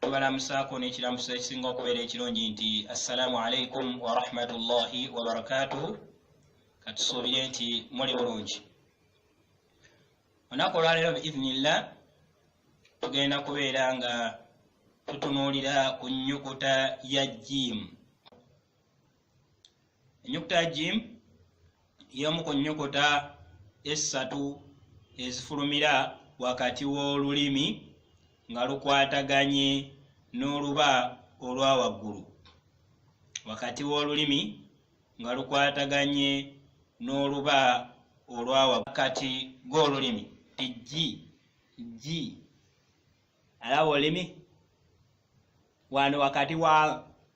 tubalamusaako n'ekiramuso ekisinga okubeera ekirungi nti assalaamu alaikum warahmatullahi wabarakatuhu katusuubire nti muli bulungi olunaku olwaleero biidhnillah tugenda kubeera nga tutunuulira ku nyukuta ya jiimu ennyukuta ya jim y'omu ku nnyukuta essatu ezifulumira wakati w'olulimi nga lukwataganye n'oluba olwa waggulu wakati w'olulimi nga lukwataganye n'oluba olwa wakati g'olulimi ti gi gi alaba olulimi wano wakati wa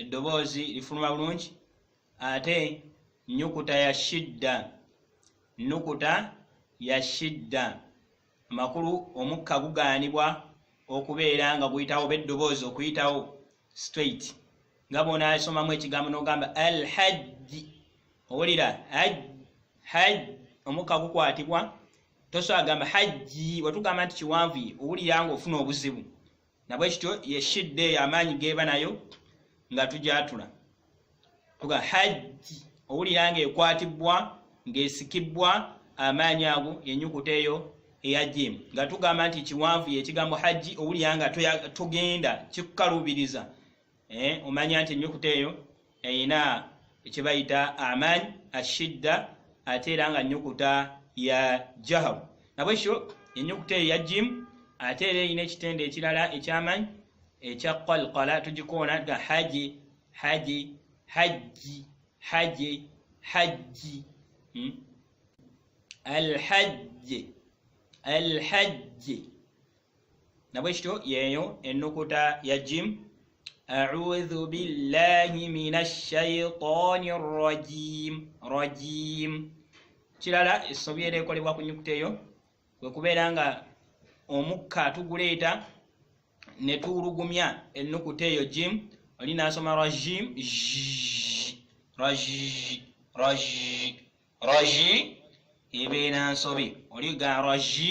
eddoboozi lifuluma bulungi ate nyukuta ya shidda nukuta ya shidda amakulu omukka gugaanibwa okubeera nga guyitawo oba eddoboozi okuyitawo straight nga bwonasomamu ekigambo nogamba alhajji owulira hajj omukka gukwatibwa tosobola gamba hajji wetugamba nti kiwanvuye owulira nga ofuna obuzibu nabwe kityo ye shidda eyo amaanyi geba nayo nga tujatula tuga hajji owulira nga ekwatibbwa ng'esikibbwa amaanyi ago yenyukuta eyo eya jimu nga tugamba nti kiwanvu yekigambo hajji owulira nga tugenda kikukalubiriza eh, omanya nti enyukuta eyo erina ekyebayita amaanyi ashidda ate era nga nyukuta ya jahabu nabwekyo enyukuta eyo ya jimu ate era erina ekitendo ekirala ekyamanyi ekya kalkala tugikoona ga haji haji haji haji haji hmm? alhaji alhaji nabwe kityo yeeyo ennukuta ya jim audhu billahi min ashaitani rajim rajim kirala essobi era ekolebwa ku nyukuta eyo kwe kubeera nga omukka tuguleeta ne tuwulugumya ennukuta eyo jim oli naasoma rajim raji raji raji ebeera nsobi oliga raji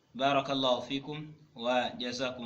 barakallahu fikum wa jazakum